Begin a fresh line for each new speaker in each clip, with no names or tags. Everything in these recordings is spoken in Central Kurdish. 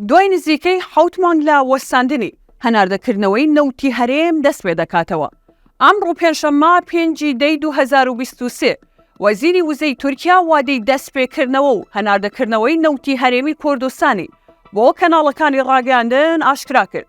دوای نزیکەی حەوت مانگ لە وەستاندنی، هەناردەکردنەوەی نەوتی هەرێم دەستپێدەکاتەوە. ئەمڕۆ پێنجشەممە پێنج ی دەی دوو هەزار و بیست و سێ، وەزیری وزەی تورکیا وادەی دەستپێکردنەوە و هەناردەکردنەوەی نەوتی هەرێمی کوردستانی بۆ کەناڵەکانی ڕاگەیاندن ئاشکراکرد.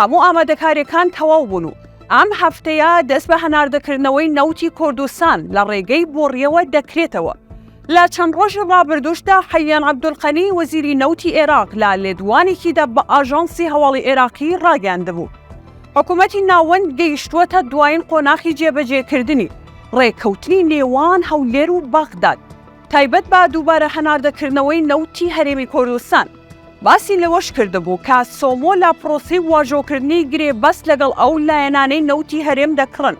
هەموو ئامادەکارییەکان تەواو بوون و ئەم هەفتەیە دەست بە هەناردەکردنەوەی نەوتی کوردستان لە ڕێگەی بۆڕییەوە دەکرێتەوە. لە چەند ڕۆژی ڕابردووشدا حەییان عەبدولقەنی وەزیری نەوتی ئێراق لە لێدوانێکیدا بە ئاژانسی هەواڵی ئێراقی ڕاگەیاندبوو، حکومەتی ناوەند گەیشتووەتە دوایین قۆناخی جێبەجێکردنی ڕێککەوتنی نێوان هەولێر و بەغداد. تایبەت بە دووبارە هەناردەکردنەوەی نەوتی هەرێمی کوردستان. باسی لەوەشکردبوو کە سۆمۆ لە پرۆسەی واژۆکردنی گرێبەست لەگەڵ ئەو لایەنانەی نەوتی هەرێم دەکڕن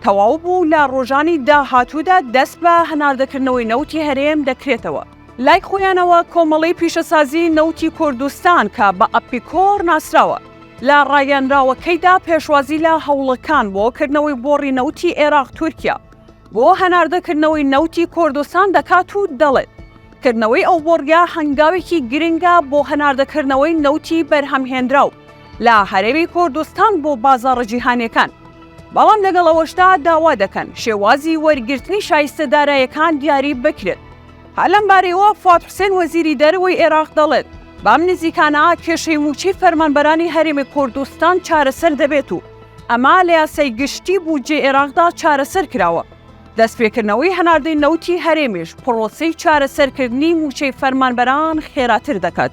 تەواو بوو و لە ڕۆژانی داهاتوودا دەست بە هەناردەکردنەوەی نەوتی هەرێم دەکرێتەوە. لای خۆیانەوە کۆمەڵەی پیشەسازیی نەوتی کوردستان کە بە ئەپیکۆر ناسراوە، لە ڕاگەیەنراوەکەیدا پێشوازی لە هەوڵەکان بۆ کردنەوەی بۆڕی نەوتی عێراق-تورکیا، بۆ هەناردەکردنەوەی نەوتی کۆردستان دەکات و دەڵێت، کردنەوەی ئەو بۆڕییە هەنگاوێکی گرنگە بۆ هەناردەکردنەوەی نەوتی بەرهەمهێنراو لە هەرێمی کۆردستان بۆ بازاڕە جیهانییەکان، بەڵام لەگەڵ ئەوەشدا داوا دەکەن شێوازی وەرگرتنی شایستە دارایەکان دیاری بکرێت. هەر لەم بارەیەوە فواد حوسێن وەزیری دەرەوەی ئێراق دەڵێت، بەم نزیکانە کێشەی مووچەی فەرمانبەرانی هەرێمی کۆردستان چارەسەر دەبێت و، ئەمە لە یاسای گشتی بودجەی عێراقدا چارەسەر کراوە، دەستپێکردنەوەی هەناردەی نەوتی هەرێمیش پڕۆسەی چارەسەرکردنی مووچەی فەرمانبەران خێراتر دەکات.